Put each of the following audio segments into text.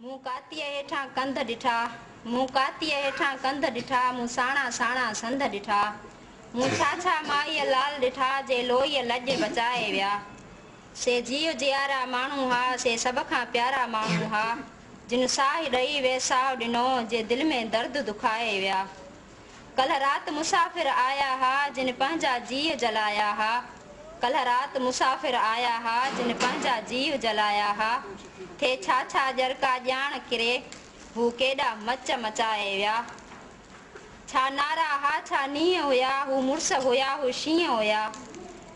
مون ڪاتيء هيٺان ڪنڌ ڏٺا، مون ڪاتيء هيٺان ڪنڌ ڏٺا، مون ساڻا ساڻا سنڌ ڏٺا، مون ڇا ڇا مائيء لال ڏٺا، جي لوئيء لڄ بچائي ويا. سي جيء جيارا ماڻهو ها، سي سڀ کان پيارا ماڻهو ها، جن ساهه ڏئي ويساهه ڏنو، جي دل ۾ درد دکائي ويا. ڪلهه رات مسافر آيا ها جن پنهنجا جيء جلايا ها ڪلهه رات مسافر آيا ها جن پنهنجا جيء جلايا ها ٿي ڇا ڇا ڄرڪا ڄاڻ ڪري هو ڪيڏا مچ مچائي ويا ڇا نارا ها ڇا نينهن هيا هو مڙس هيا هو شينهن هيا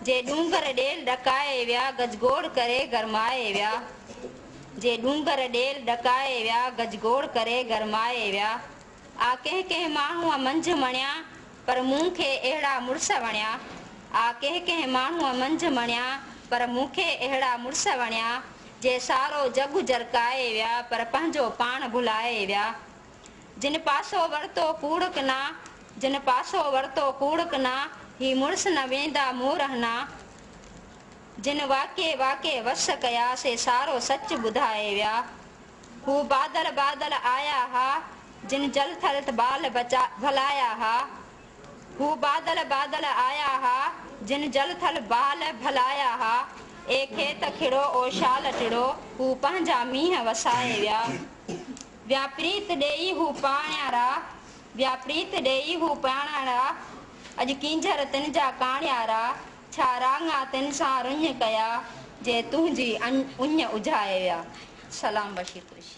جي ڏونگر ڏيل ڏڪائي ويا گجگوڙ ڪري گرمائي ويا جي ڏونگر ڏيل ڏڪائي ويا گجگوڙ ڪري گرمائي ويا. آ ڪنهن ڪنهن ماڻهوء منجهه مڻيان، پر مون کي اهڙا مڙس وڻيا. آ ڪنهن ڪنهن ماڻهوء منجهه مڻيان، پر مون کي اهڙا مڙس وڻيا، جي سارو جڳ جرڪائي ويا، پر پنهنجو پاڻ ڀلائي ويا. جن پاسو ورتو ڪوڙ ڪنا، جن پاسو ورتو ڪوڙ ڪنا، هي مڙس نه ويندا مون رهنا. جن واڪي واڪي وس ڪيا، سي سارو سچ ٻڌائي ويا. هو بادل بادل آيا ها، جن جل ٿل ٿ بال بچا ڀلايا ها. هو بادل بادل آيا ها، جن جل ٿل بال ڀلايا ها. اي کيت کڙو او شال ٽڙو، هو پنهنجا مينهن وسائي ويا. ويا پريت ڏيئي هو پاڻيارا، ويا پريت ڏيئي هو پاڻيارا. اڄ ڪينجهر تن جا ڪاڻيارا. ڇا رانگ آ تن سان رڃ ڪيا جي تنهنجي اڃ اجهائي ويا سلام بشير قريشي.